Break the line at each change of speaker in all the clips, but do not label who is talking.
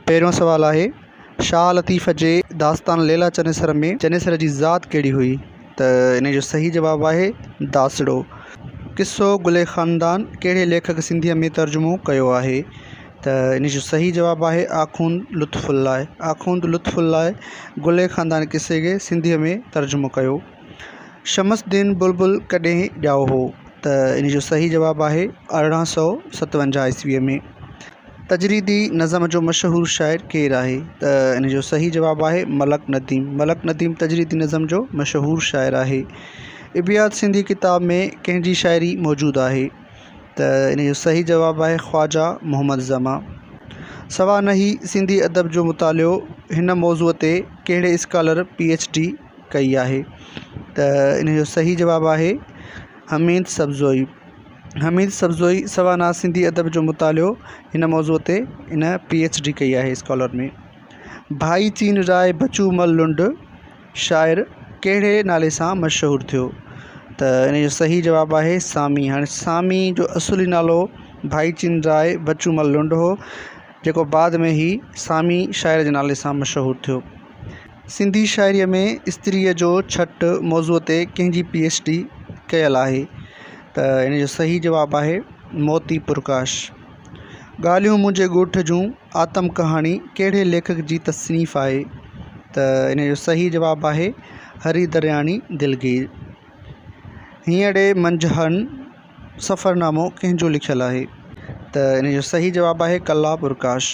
پهريون سوال آهي شاهه لطيف جي داستان ليلا چنيسر ۾ چنيسر جي ذات ڪهڙي هئي ته انهي جو صحيح جواب آهي داسڙو. قصو گل خاندان ڪهڙي ليکڪ سنڌيء ۾ ترجمو ڪيو آهي ته انهي جو صحيح جواب آهي آخوند لطف الله. آخوند لطف الله گل خاندان قصي کي سنڌيء ۾ ترجمو ڪيو. شمس الدين بلبل ڪڏهن ڄائو هو ته انهي جو صحيح جواب آهي ارڙهن سئو ستونجاهه عيسويء ۾. تجريدي نظم جو مشهور شاعر ڪير آهي؟ ته ان جو صحيح جواب آهي ملڪ نديم. ملڪ نديم تجريدي نظم جو مشهور شاعر آهي. ابيات سنڌي ڪتاب ۾ ڪنهن جي شاعري موجود آهي؟ ته ان جو صحيح جواب آهي خواجه محمد زما. سوانحي سنڌي ادب جو مطالعو هن موضوع تي ڪهڙي اسڪالر پي ايڇ ڊي ڪئي آهي؟ ته ان جو صحيح جواب آهي حميد سبزوئي. حميد سبزوئي سوا ناز سنڌي ادب جو مطالعو هن موضوع تي هن پي ايڇ ڊي ڪئي آهي اسڪالر ۾ ڀائي چين راء بچو مل لنڊ شاعر ڪهڙي نالي سان مشهور ٿيو ته ان جو صحيح جواب آهي سامي هاڻي سامي جو اصولي نالو ڀائي چين راء بچو مل لنڊ هو جيڪو بعد ۾ هي سامي شاعر جي نالي سان مشهور ٿيو سنڌي شاعريء ۾ استريء جو ڇٽ موضوع تي ڪنهن جي پي ايڇ ڊي ڪيل آهي ته ان جو صحيح جواب آهي موتي پرڪاش ڳالهيون منهنجي ڳوٺ جون آتم ڪهاڻي ڪهڙي ليکڪ جي تصنيف آهي ته ان جو صحيح جواب آهي هري درياڻي دلگير هينئڙي منجهن سفرنامو ڪنهن جو لکيل آهي ته ان جو صحيح جواب آهي ڪلا پرڪاش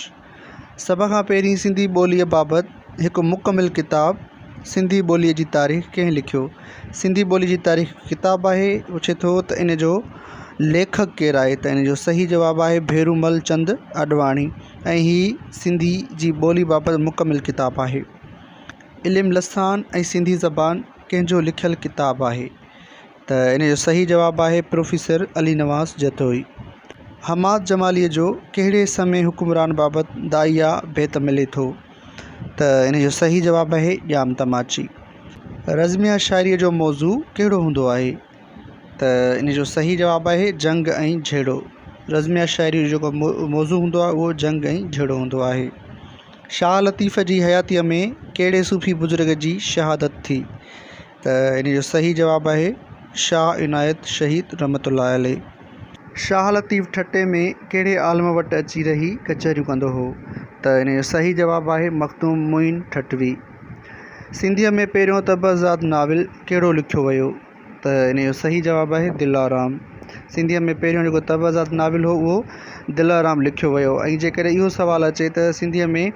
سڀ کان پهرين سنڌي ٻوليء بابت هڪ مڪمل ڪتاب سنڌي ٻوليء جي تاريخ ڪنهن لکيو؟ سنڌي ٻوليء جي تاريخ هڪ ڪتاب آهي، پڇي ٿو ته ان جو ليکڪ ڪير آهي ته ان جو صحيح جواب آهي ڀيرومل چند آڏواڻي ۽ هي سنڌي جي ٻولي بابت مڪمل ڪتاب آهي. علم لسان ۽ سنڌي زبان ڪنهن جو لکيل ڪتاب آهي؟ ته ان جو صحيح جواب آهي پروفيسر علي نواز جتوئي. حماد جماليء جو ڪهڙي سمي حڪمران بابت داعيه بيت ملي ٿو ته ان جو صحيح جواب آهي ڄام تماچي. رزميه شاعريء جو موضوع ڪهڙو هوندو آهي ته ان جو صحيح جواب آهي جنگ ۽ جهيڙو. رزميه شاعريء جو جيڪو موضوع هوندو آهي اهو جنگ ۽ جهيڙو هوندو آهي. شاهه لطيف جي حياتيء ۾ ڪهڙي صوفي بزرگ جي شهادت ٿي؟ ته ان جو صحيح جواب آهي شاهه عنايت شهيد رحمت الله عليه. شاهه لطيف ٺٽي ۾ ڪهڙي عالم وٽ اچي رهي ڪچهريون ڪندو هو؟ ته ان جو صحيح جواب آهي مخدوم معين ٺٽوي. سنڌيء ۾ پهريون طبعزاد ناول ڪهڙو لکيو ويو؟ ته ان جو صحيح جواب آهي دلارام. سنڌيء ۾ پهريون جيڪو طبعزاد ناول هو اهو دلارام لکيو ويو ۽ جيڪڏهن اهو سوال اچي ته سنڌيء ۾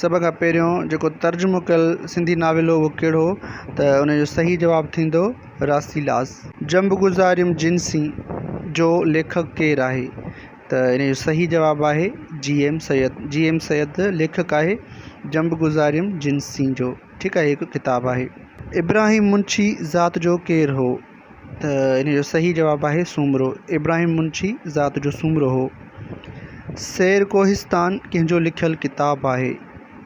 سڀ کان پهريون جيڪو ترجمو ڪيل سنڌي ناول هو اهو ڪهڙو ته ان جو صحيح جواب ٿيندو راسي لاز. جنب گذاريم جن سين جو ليکڪ ڪير آهي ته ان جو صحيح جواب آهي G M Syed G M Syed ليکڪ آهي جنب گذاريم جن سين جو ٺيڪ آهي هي هڪ ڪتاب آهي. ابراهيم منشي ذات جو ڪير هو؟ ته ان جو صحيح جواب آهي سومرو. ابراهيم منشي ذات جو سومرو هو. سير ڪوهستان ڪنهن جو لکيل ڪتاب آهي؟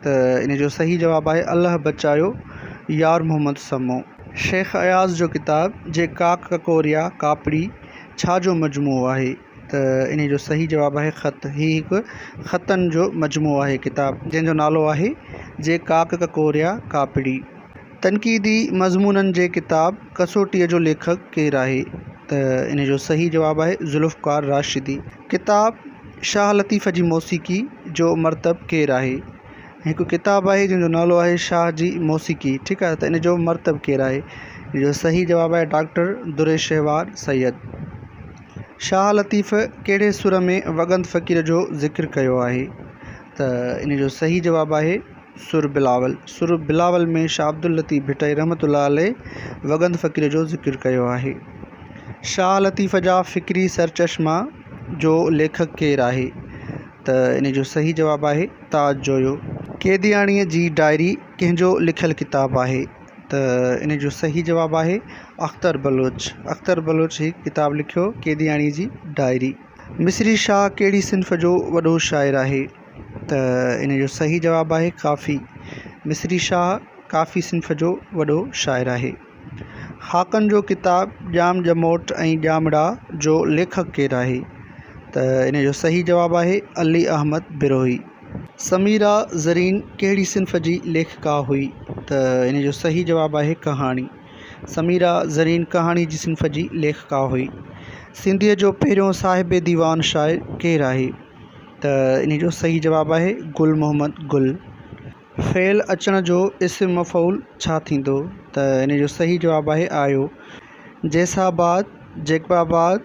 ته ان جو صحيح جواب آهي الله بچايو يار محمد سمو. شيخ اياز جو ڪتاب جي ڪاڪ ڪڪوريا ڪاپڙي ڇا جو مجموعو آهي؟ ته ان جو صحيح جواب آهي خط. هي هڪ خطن جو مجموعو آهي ڪتاب جنهن جو نالو آهي جي ڪاڪ ڪڪوريا ڪاپڙي. تنقيدي مضمونن جي ڪتاب ڪسوٽيء جو ليکڪ ڪير آهي؟ ته ان جو صحيح جواب آهي ذوالفقار راشدي. ڪتاب شاهه لطيف جي موسيقي جو مرتب ڪير آهي؟ هڪ ڪتاب آهي جنهن جو نالو آهي شاهه جي موسيقي ٺيڪ آهي ته ان جو مرتب ڪير آهي؟ ان جو صحيح جواب آهي ڊاڪٽر دري شهوار سيد. شاهه لطيف ڪهڙي سر ۾ وڳند فقير جو ذڪر ڪيو آهي؟ ته ان جو صحيح جواب آهي. سر بلاول، سر بلاول ۾ شاهه عبداللطيف ڀٽائي رحمة الله عليه وڳند فقير جو ذڪر ڪيو آهي. شاهه لطيف جا فڪري سرچشما جو ليکڪ ڪير آهي؟ ته ان جو صحيح جواب آهي تاج جويو. قيدياڻيء جي ڊائري ڪنهن جو لکيل ڪتاب آهي؟ ته ان جو صحيح جواب آهي اختر بلوچ. اختر بلوچ هي ڪتاب لکيو قيدياڻيء جي ڊائري. مصري شاهه ڪهڙي صنف جو وڏو شاعر آهي؟ ته ان جو صحيح جواب آهي ڪافي. مصري شاهه ڪافي صنف جو وڏو شاعر آهي. هاڪن جو ڪتاب ڄام ڄموٽ ۽ ڄامڙا جو ليکڪ ڪير آهي؟ ته ان جو صحيح جواب آهي علي احمد بروهي. سميرا زرين ڪهڙي صنف جي ليکڪا هئي؟ ته ان جو صحيح جواب آهي ڪهاڻي. سميرا زرين ڪهاڻي جي صنف جي ليکڪا هئي. سنڌيء جو پهريون صاحب ديوان شاعر ڪير آهي؟ ته انهي جو صحيح جواب آهي گل محمد گل. فعل اچڻ جو اسم مفعول ڇا ٿيندو؟ ته انهي جو صحيح جواب آهي آيو. جيس آباد، جيڪب آباد،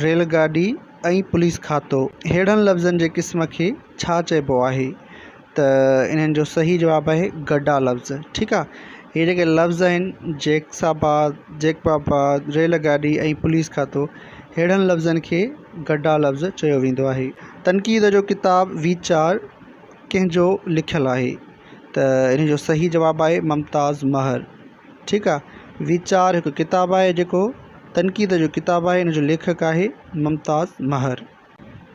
ريل گاڏي ۽ پوليس کاتو ههڙن لفظن جي قسم کي ڇا چئبو آهي؟ ته انهن جو صحيح جواب آهي گڊا لفظ ٺيڪ آ هي جيڪي لفظ آهن جيڪس آباد جيڪب آباد ريل گاڏي ۽ پوليس کاتو ههڙن لفظن کي گڊا لفظ چيو ويندو آهي تنقيد جو ڪتاب ويچار ڪنهن جو لکيل آهي ته ان جو صحيح جواب آهي ممتاز مهر ٺيڪ آ ويچار هڪ ڪتاب آهي جيڪو تنقيد جو ڪتاب آهي ان جو ليکڪ آهي ممتاز مهر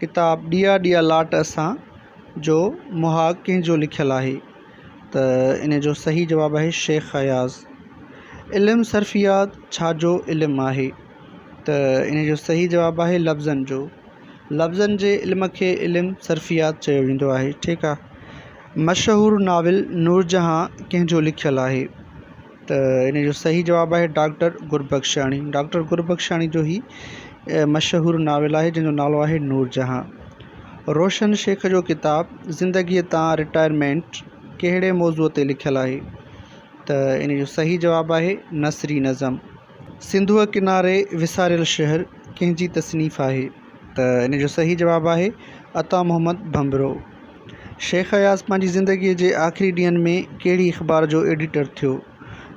ڪتاب ڏيئا ڏيئا لاٽ اسان جو مهاڳ ڪنهن جو لکيل آهي ته ان جو صحيح جواب آهي شيخ اياز علم صرفيات ڇا جو علم آهي ته ان جو صحيح جواب آهي لفظن جو لفظن جي علم کي علم صرفيات چيو ويندو آهي ٺيڪ آهي مشهور ناول نورجهان ڪنهن جو لکيل آهي ته ان جو صحيح جواب آهي ڊاڪٽر گربخشاڻي. ڊاڪٽر گربخشاڻي جو هي مشهور ناول آهي جنهن جو نالو آهي نورجهان. روشن شيخ جو ڪتاب زندگيء تان رٽائرمينٽ ڪهڙي موضوع تي لکيل آهي ته ان جو صحيح جواب آهي نثري نظم. سنڌوء ڪناري وساريل شهر ڪنهن جي تصنيف آهي؟ ته ان جو صحيح جواب آهي عطا محمد ڀنڀرو. شيخ اياز پنهنجي زندگيء جي آخري ڏينهن ۾ ڪهڙي اخبار جو ايڊيٽر ٿيو؟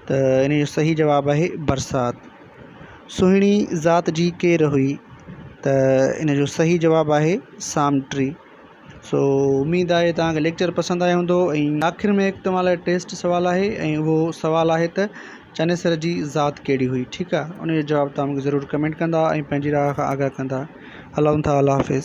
ته ان جو صحيح جواب آهي برسات. سهڻي ذات جي ڪير هئي؟ ته ان جو صحيح جواب آهي سام ٽري. سو اميد آهي توهان کي ليڪچر پسند آيو هوندو ۽ آخر ۾ هڪ توهان لاء ٽيسٽ سوال آهي ۽ اهو سوال آهي ته چنيسر جي ذات ڪهڙي هئي ٺيڪ آهي ان جو جواب توهان مونکي ضرور ڪمينٽ ڪندا ۽ پنهنجي راء کان آگاهه ڪندا هلون ٿا الله حافظ